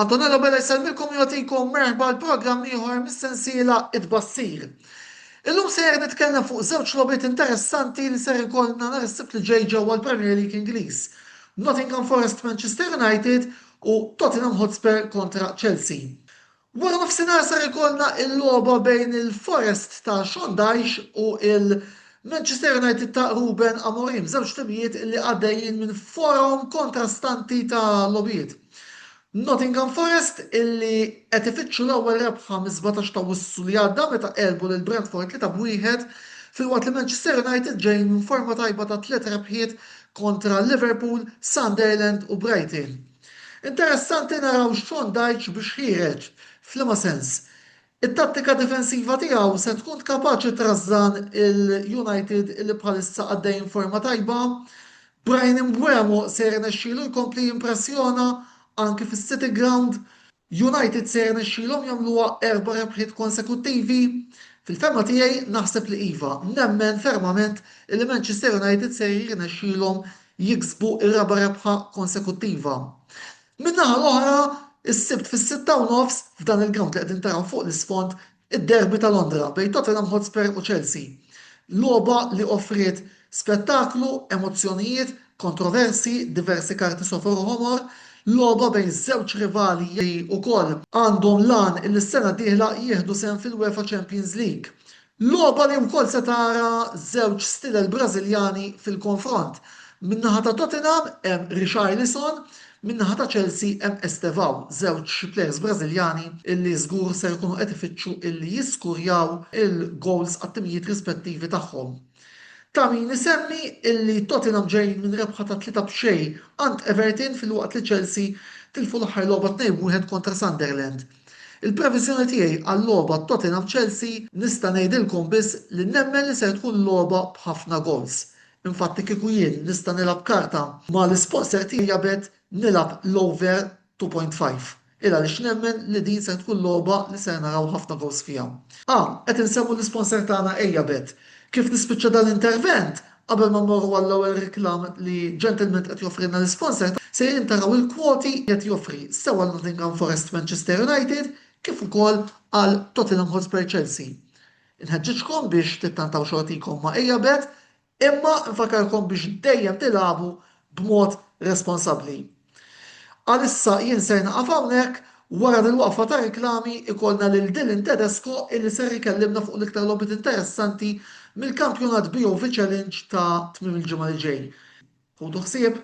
Antonello Bella jsellmilkom u jagħtikom merħba għal programm ieħor mis-sensiela It-Tbassir. Illum sejjer nitkellem fuq żewġ logħbiet interessanti li ser ikollna nhar is-Sibt li ġej ġewwa l-Premier League Ingliż, Nottingham Forest Manchester United u Tottenham Hotspur kontra Chelsea. Waranofsinhar ser ikollna l-logħba bejn il-Forest ta' Sean Dyche u l-Manchester United ta' Ruben Amorim, żewġ timijiet li għaddejjin minn forom kontrastanti ta' logħbiet. Nottingham Forest illi qed ifittxu l-ewwel rebħa mis-sbatax ta' Awwissu li għadda meta għelbu lil Brentford tlieta b'wieħed filwaqt li Manchester United ġejjin minn forma tajba ta' tliet rebħiet kontra Liverpool, Sunderland u Brighton. Interessanti naraw x'Sean Dyche biex ħiereġ, f'liema sens? It-tattika difensiva tiegħu se tkun kapaċi trażżan il-United li bħalissa għaddejjin forma tajba. Bryan Mbeumo se jirnexxilu jkompli jimpressjona anki fis-City Ground? United se jirnexxilhom jagħmluha erba' rebħiet konsekuttivi? Fil-fehma tiegħi, naħseb li iva. Nemmen fermament li Manchester United se jirnexxilhom jiksbu r-raba' rebħa konsekuttiva. Min-naħa l-oħra, is-Sibt fis-sitta u nofs, f'dan il-grawnd li qegħdin taraw fuq l-isfond, id-derby ta' Londra bejn Tottenham Hotspur u Chelsea. Logħba li offriet spettaklu, emozzjonijiet, kontroversji, diversi karti sofor u ħomor, logħba bejn żewġ rivali li wkoll, għandhom l-għan li s-sena d-dieħla jieħdu sehem fil-UEFA Champions League Logħba li wkoll se tara żewġ stilel Brażiljani fil-konfront. Min-naħa ta' Tottenham hemm Richarlison, min-naħa ta' Chelsea hemm Estevao, żewġ plejers Brażiljani li żgur ser ikunu qed ifittxu li jiskurjaw il-gowls għat-timijiet rispettivi tagħhom. Ta' min isemmi li Tottenham ġejjin minn rebħa ta' tlieta b'xejn għand Everton filwaqt li Chelsea tilfu l-aħħar logħba tnejn b'wieħed kontra Sunderland. Il-previżjoni tiegħi għal-logħba Tottenham-Chelsea nista' ngħidilkom biss li nemmen li ser tkun logħba b'ħafna goals. Infatti kieku jien nista' nilgħab karta ma' l-isponser tiegħi jabet nilgħab l-over 2.5 il għaliex nemmen li din ser tkun logħba li ser naraw ħafna goals fiha. Ah, qed insemmu l-isponser tagħna Ejjabet. Kif nispiċċa dan l-intervent, Qabel ma mmorru għall-ewwel reklam li ġentilment qed joffrilna l-isponsor tagħna, sejrin taraw il-kwoti li qed joffri sew għal Nottingham Forest Manchester United kif ukoll għal Tottenham Hotspur Chelsea. Inħeġġiġkom biex tittantaw xortikom ma' Eabet imma nfakkarkom biex dejjem tilagħbu b'mod responsabbli. Għalissa jien ser nieqaf hawnhekk, wara dil-waqfa ta' reklami ikollna lil Dylan Tedesco illi ser ikellimna fuq l-iktar logħbiet interessanti mill-kampjonat BOV Challenge ta' tmiem il-ġimgħa li ġej. Ħudu ħsieb!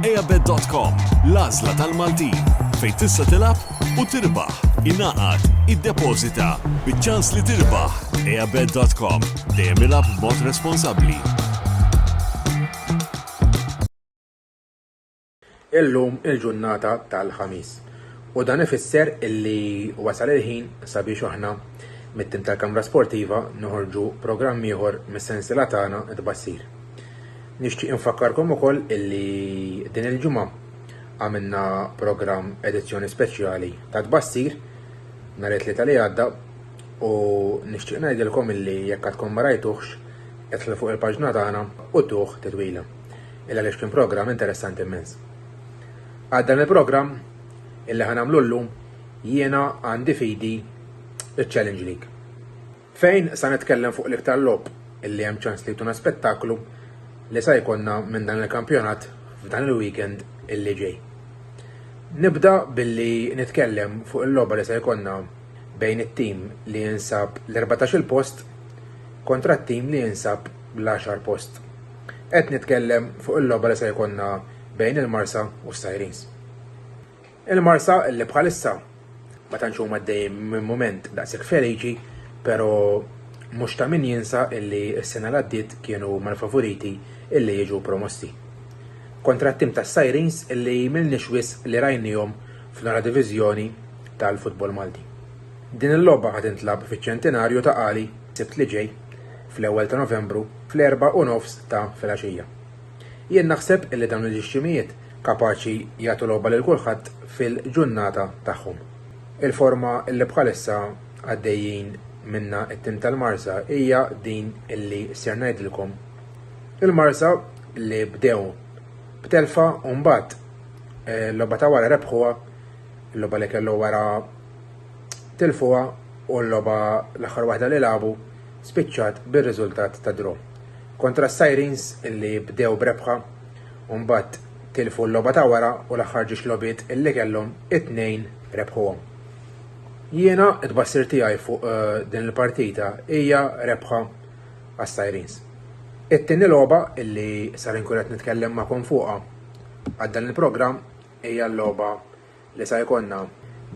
Eabet.com, l-għażla tal-Maltin, fejn tista' tilab u tirbaħ, inaqat, id-depozita, bieċans li tirbaħ. Eabet.com, dejjem ilab mod responsabli. Illum il-ġurnata tal-ħamis. U dan ifisser illi wasal il-ħin sabiex aħna mit-tim tal-Kamra Sportiva noħorġu programm ieħor mis-sensila tagħna tbassir. Nixtieq infakkarkom ukoll illi din il-ġimgħa għamilna programm edizzjoni speċjali ta' tbassir nhar it-Tlieta li għadda u nixtieq ngħidilkom illi jekk għadkom ma rajtuhx idħlu fuq il-paġna tagħna u tuh titwila. Il għaliex kien programm interessanti immens. Għal dan il-programm illi ħanamlu llum jiena għandi fidi iċ-Challenge League. Fejn sa nitkellem fuq l-iktar logħob li hemm ċans li jtuna spettaklu li sa jkollna minn dan il-kampjonat f'dan il-weekend illi ġej. Nibda billi nitkellem fuq il-logħba li sa jkollna bejn it-tim li jinsab l-14 post kontra t-tim li jinsab l-10 post. Qed nitkellem fuq il-logħba li sa jkollna bejn il-Marsa u s-Sirens. Il-Marsa li bħalissa ma tantx huma għaddejjin minn mument daqshekk feliċi, pero mhux ta' min jinsa illi s-sena li għaddiet kienu huma l-favoriti illi jiġu promossi. Kontra t-tim tas-Sirens illi m'ilniex wisq li rajniehom fl-ogħla diviżjoni tal-futbol Malti. Din il-logħba ħa tintlagħab fiċ-Ċentinarju ta' Qali s-Sibt li ġej, fl-ewwel ta' Novembru, fl-erbgħa u nofs ta' filgħaxija. Jien naħseb illi dawn il-ġixximijiet kapaċi jagħtu logħba lil kulħadd fil-ġunnata tagħhom. Il-forma illi bħalissa għaddejjin minnha t-tim tal-Marsa hija din illi ser ngħidilkom. Il-Marsa li bdew b'telfa u mbagħad eh, l-logħba ta' wara rebħuha, l-logħba li kellu wara tilfuha u l-logħba l-aħħar waħda li lagħbu spiċċat bir-riżultat ta' draw. Kontra s-Sirens illi bdew b'rebħa u mbagħad tilfu l-logħba ta' wara u l-aħħar ġiex logħbiet illi kellhom it-tnejn rebħuhom. Jiena t-tbassir tiegħi fuq din il-partita hija rebħa għas-Sirens. It-tieni logħba illi sar inkun qed nitkellem magħkom fuqha għal dan il-programm hija l-logħba li sa jkollna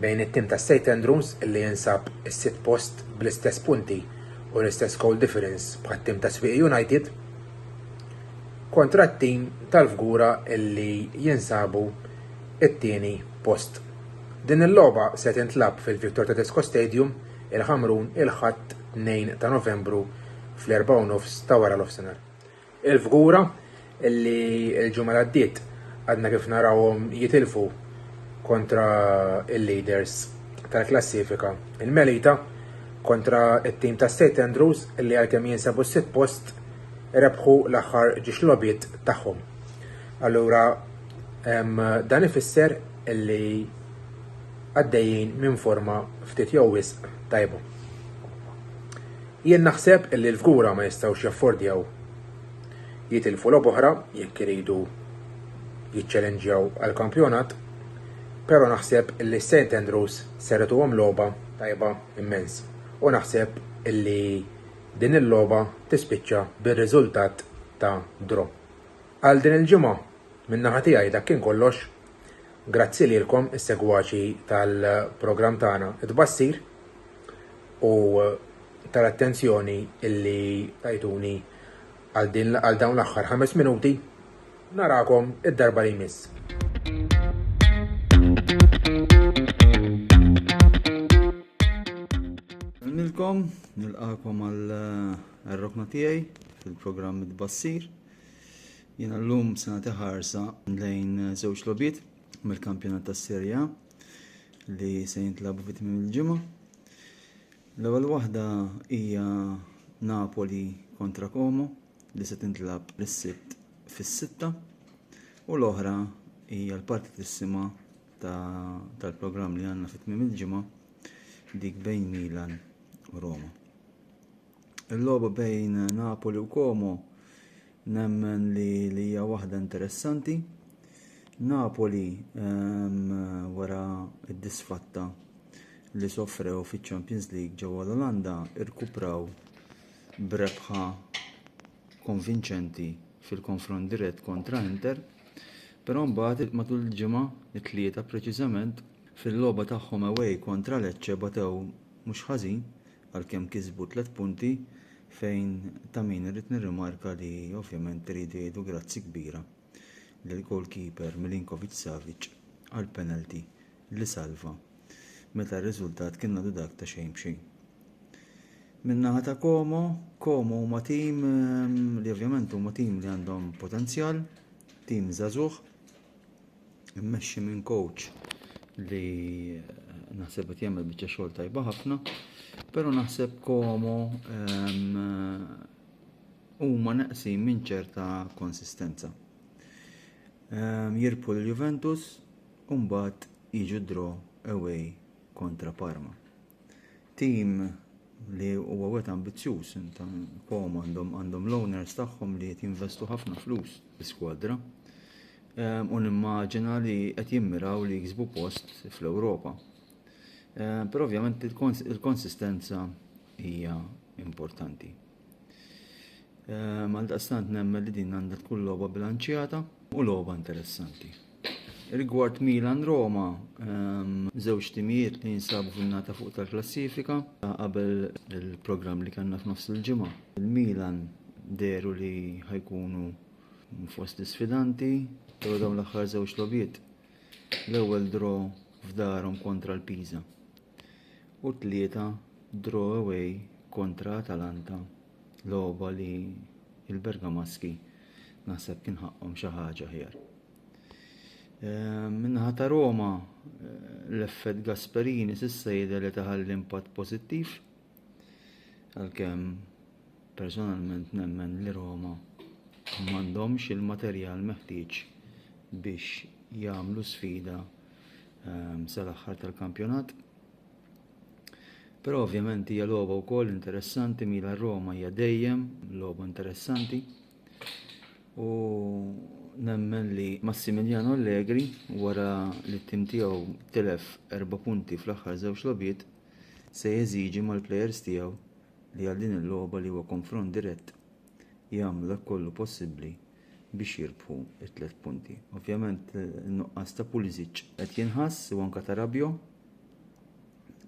bejn it-tim ta' St Andrews li jinsab is-sitt post bl-istess punti u l-istess goal difference bħat-tim ta' Swieqi United kontra t-tim tal-Fgura li jinsabu t-tieni post. Din il-logħba se tintlagħab fil-Victor Tedesco Stadium, il-Ħamrun, il-Ħadd 2 ta' Novembru fl-erbgħa u nofs ta' wara l-ofsinhar. Il-fgura li l-ġimgħa li għaddiet għadna kif narawhom jitilfu kontra l-leaders tal-klassifika, il-Melita, kontra t-tim ta' St Andrews li għalkemm jinsabu s-sitt post rebħu l-aħħar ġiex logħbiet tagħhom. Allura dan ifisser li għaddejjin minn forma ftit jew wisq tajba. Jien naħseb li l-Fgura ma jistgħux jaffordjaw jitilfu logħb'oħra jekk iridu jiċċelenġjaw għall-kampjonat, pero naħseb li s-Saint Andrews ser ituhom logħba tajba immens u naħseb li din il-logħba tispiċċa bir-riżultat ta' draw. Għal din il-ġimgħa minn naħa tiegħi dak kien kollox. Grazzi lilkom is-segwaċi tal-programm tagħna It-Tbassir. u tal-attenzjoni illi tajtuni għal dawn l-aħħar ħames minuti. Narakom id-darba li jmiss. Nilkom, nilqakom għal eh, rokna tiegħi fil-programm id-bassir. Jena l-lum sena teħarsa lejn żewġ lobiet mill-kampjonat tas serja li se jintlabu fit tmim il-ġimgħa. L-ewwel waħda hija Napoli kontra Como li se tintlab is-sibt fis-sitta u l-oħra hija l-partitissima tal-programm li għandna fit tmim il-ġimgħa dik bejn Milan u Roma. Il-logħba bejn Napoli u Como nemmen li li hija waħda interessanti. Napoli ehm, wara d-disfatta li soffrew fiċ-Champions League ġewwa l-Olanda irkupraw b'rebħa konvinċenti fil-konfront dirett kontra Inter, però mbagħad matul il-ġimgħa it-tlieta preċiżament fil-logħba tagħhom away kontra Lecce batew mhux ħażin għalkemm kisbu tliet punti fejn ta' min irrid nirrimarka li ovvjament iridu jgħidu grazzi kbira lill-goalkeeper Milinkovic-Savic għall-penalty li salva meta r-riżultat kien għadu dak ta' xejn b'xejn. Min-naħa ta' Como, Como huma tim li ovvjament huma tim li għandhom potenzjal, tim żagħżugħ, immexxi minn coach li naħseb qed jagħmel biċċa xogħol tajba ħafna, però naħseb komo ehm, huma neqsin minn ċerta konsistenza. Ehm, jirpu l-Juventus u mbagħad jiġu draw away kontra Parma. Tim li huwa wet ambizzjuż ta' Pom għandhom għandhom l-owners tagħhom li qed jinvestu ħafna flus fl-iskwadra. Ehm, u nimmaġina li qed jimmiraw li jiksbu post fl-Ewropa. Ehm, però ovvjament il-konsistenza hija importanti. Ehm, għal daqstant nemmen li din għandha tkun logħba bilanċjata u logħba interessanti. Rigward Milan Roma, ehm, żewġ timijiet li jinsabu fin-nata fuq tal-klassifika qabel il-programm li kellna f'nofs il-ġimgħa. Il-Milan deru li ħajkunu fost sfidanti, pero dawn l-aħħar żewġ lobiet. L-ewwel draw f'darhom kontra l-Pisa. u tlieta draw away kontra Atalanta logħba li il-Bergamaschi naħseb kien ħaqqhom xi ħaġa ħjar. Ehm, minnaħa ta' Roma eh, l-effett Gasperini s'issa jidher li taħall impatt pożittiv Għalkemm personalment nemmen li Roma m'għandhomx il-materjal meħtieġ biex jagħmlu sfida ehm, sal-aħħar tal-kampjonat. Però ovvjament hija logħba wkoll interessanti mila Roma hija dejjem logħba interessanti. U nemmen li Massimiliano Allegri wara li t-tim tiegħu tilef erba' punti fl-aħħar żewġ logħbiet se jeżiġi mal-plejers tiegħu li għal din il-logħba li huwa konfront dirett jagħmlu dak kollu possibbli biex jirbħu t-tliet punti. Ovvjament in-nuqqas ta' Pulisic qed jinħass u anke ta' Rabio.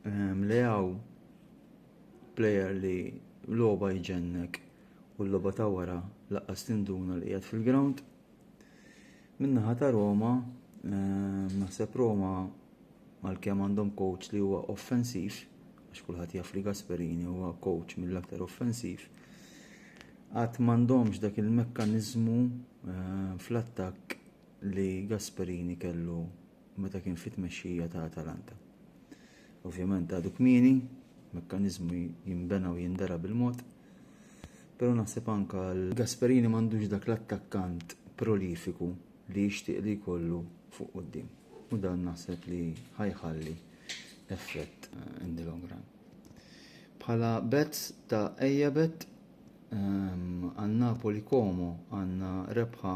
Ehm, Leaw plejer li logħba jġennek u l-logħba ta' wara laqqas tinduna li qiegħed fil-ground. Min-naħa ta' Roma, ehm, naħseb Roma għalkemm għandhom coach li huwa offensiv, għax kulħadd jaf li Gasperini huwa coach mill-aktar offensiv, għad m'għandhomx dak il-mekkaniżmu ehm, fl-attakk li Gasperini kellu meta kien fit-tmexxija ta' Atalanta. Ovvjament għadu kmieni, mekkaniżmu jinbena u jindera bil-mod, però naħseb anka l-Gasperini m'għandux dak l-attakkant prolifiku li jixtieq li jkollu fuq quddiem. U dan naħseb li ħajħalli effett eh, in the long run. Bħala bets ta' ejja bet ehm, għan Napoli Como għanna rebħa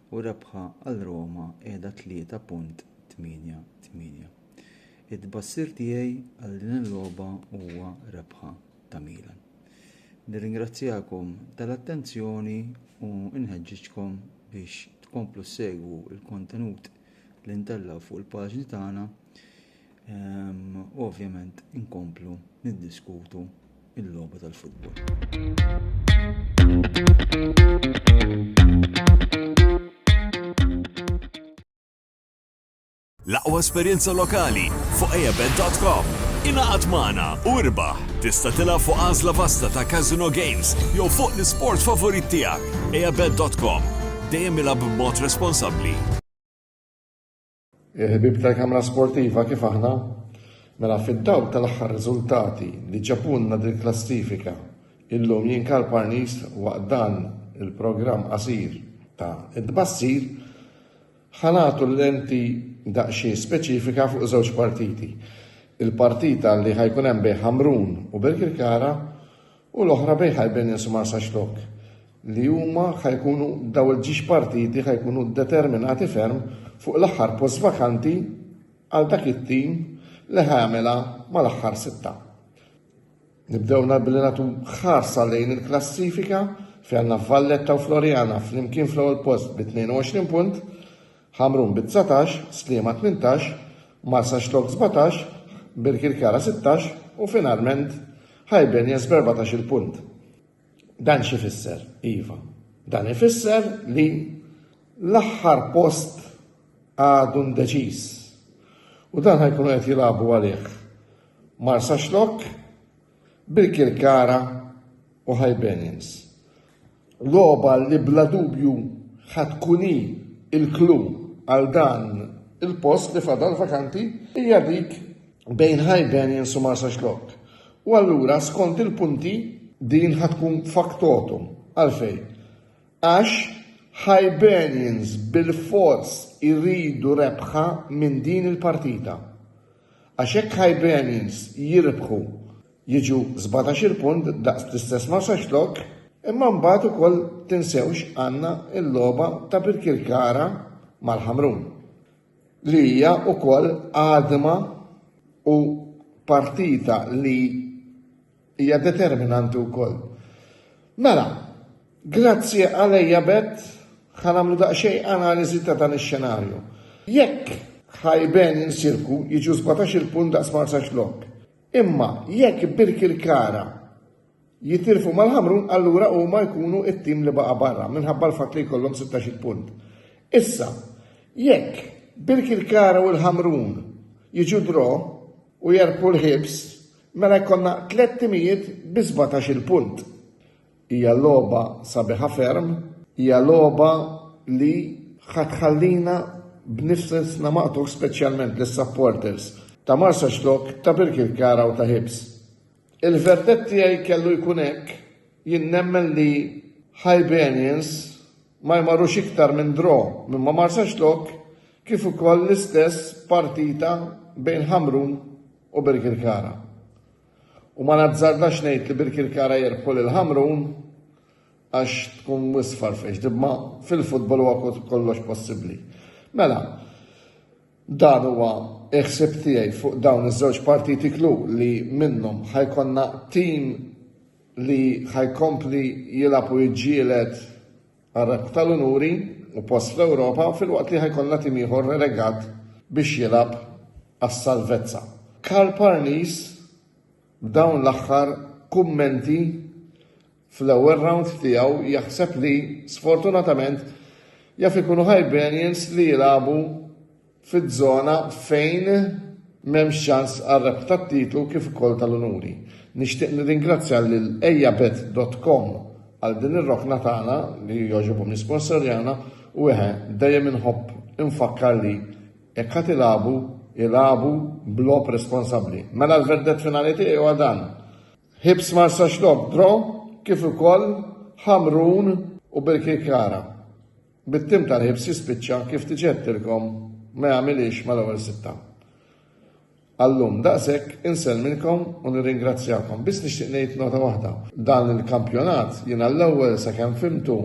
u rebħa għal Roma qiegħda 3.88. It-tbassir tiegħi għal din il-logħba huwa rebħa ta' Milan. Nirringrazzjakom tal-attenzjoni u nħeġġiġkom biex tkomplu ssegwu l-kontenut li ntellgħu fuq il-paġni tagħna U ovvjament inkomplu niddiskutu il-logħba tal-futbol. L-aqwa esperjenza lokali fuq ejabet.com. Ingħaqad magħna u irbaħ! Tista' tilgħab fuq għażla vasta ta' casino games jew fuq l-isport favorit tiegħek. Ejabet.com. Dejjem ilgħab b'mod responsabbli. Il-ħbieb tal-kamra sportiva kif aħna? Mela fid-dawl tal-aħħar riżultati li ġabulna dil-klassifika, illum jien Karl Parnist waqt dan il-programm qasir ta' It-Tbassir ħa nagħtu l-lenti daqsxejn speċifika fuq żewġ partiti. Il-partita li ħajkun hemm bejn Ħamrun u Birkirkara u l-oħra bejn Hibernians u Marsaxx Lock, li huma ħa jkunu daw il-ġiex partiti ħa jkunu determinati ferm fuq l-aħħar post vakanti għal dak it-tim li ħa jagħmilha mal-aħħar sitta. Nibdew nhar billi nagħtu ħarsa lejn il-klassifika fejn għandna Valletta u Floriana flimkien fl-ewwel post bi 22 punt, Ħamrun bi dsatax, Sliema tmintax, Marsaxlokk sbatax, Birkirkara sittax u finalment Hibernians b'erbatax-il punt. Dan x'ifisser? Iva, dan ifisser li l-aħħar post għadu ndeċiż u dan ħa jkunu qed jilagħbu għalih Marsaxlokk, Birkirkara u Hibernians. Logħba li bla dubju ħa tkun hi l-klu għal dan il-post li fadal vakanti hija dik bejn Hibernians u Marsaxlokk. U allura skont il-punti din ħa tkun faktotum għalfejn. Għax Hibernians bil-fors iridu rebħa minn din il-partita. Għax jekk Hibernians jirbħu jiġu sbatax-il punt daqs l-istess Marsaxlokk imma mbagħad ukoll tinsewx għandna l-logħba ta' Birkirkara mal-Ħamrun li hija ukoll għadma u partita li Hija determinanti wkoll. Mela, grazzi għalejja bet ħa nagħmlu daqsxejn analiżi ta' dan ix-xenarju. Jekk ħajben insirku jiġu 17 il-punt daqs Marsax Lok. Imma jekk Birkirkara jitilfu mal-Ħamrun allura huma jkunu it-tim li baqa' barra minħabba l-fatt li jkollhom 16 punt. Issa, jekk Birkirkara u l-Ħamrun jiġu draw u jerpu l-ħibs, Mela jkollna tliet timijiet bi sbatax-il punt. Hija logħba sabiħa ferm, hija logħba li ħa tħallina b'nifsna maqtugħ speċjalment lis-supporters ta' Marsaxlokk, ta' Birkirkara u ta' Hibs. Il-verdett tiegħi kellu jkun hekk, jien nemmen li Hibernians ma jmorrux iktar minn draw minn ma' Marsaxlokk kif ukoll l-istess partita bejn Ħamrun u Birkirkara. U ma nazzardax ngħid li Birkirkara jirbħu lil Ħamrun għax tkun wisq farfex, imma fil-futbol huwa kollox possibbli. Mela, dan huwa iħsib tiegħi fuq dawn iż-żewġ partiti klu li minnhom ħajkonna tim li ħajkompli jilgħab u jġielet Għar-Rebħ tal-Unuri u post fl-Ewropa filwaqt li ħajkollna tim ieħor relegat biex jilgħab għas-salvezza. Karl Parnis b'dawn l-aħħar kummenti fl-ewwel rawnd tiegħu jaħseb li sfortunatament jaf ikunu Hibernians li jilagħbu fiż-żona fejn m'hemmx ċans għar-rebħ tat-titlu kif ukoll tal-unuri. Nixtieq nirringrazzja lil Ejjabet dot com għal din ir-rokna tagħna li jogħġobhom jisponsorjana u eħe, dejjem inħobb infakkar li jekk ħadd ilagħbu, ilagħbu b'logħob responsabbli. Mela l-verdett finali tiegħi huwa dan. Ħibs Marsa Xlok draw kif ukoll Ħamrun u Birkirkara. Bit-tim tal-ħibs jispiċċa kif diġà għedtilkom ma jagħmilhiex mal-ewwel sitta. Għal-lum daqshekk, insellmilkom u nirringrazzjakom. Biss nixtieq ngħid nota waħda. Dan il-kampjonat jien għall-ewwel sakemm fimtu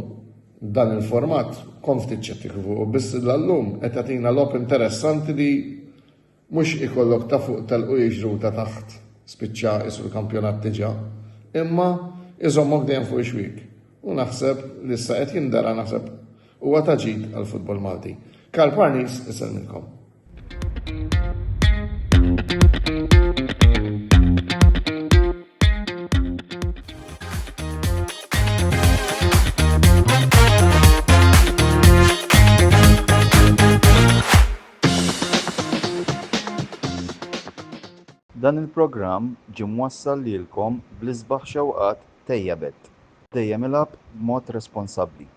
dan il-format kont ftit ċettiku fuq biss l-lum qed tagħtina logħob interessanti li Mhux ikollok ta' fuq telq u jiġru ta' taħt spiċċa qisu l-kampjonat diġà, imma iżommok dejjem fuq ix-xwiek. U naħseb li issa qed jindara naħseb huwa ta' ġid għall-futbol Malti. Karl Parnis isellmilkom. Dan il-programm ġie mwassal lilkom bl-isbaħ xewqat Tejjabet, dejjem ilgħab b'mod responsabbli.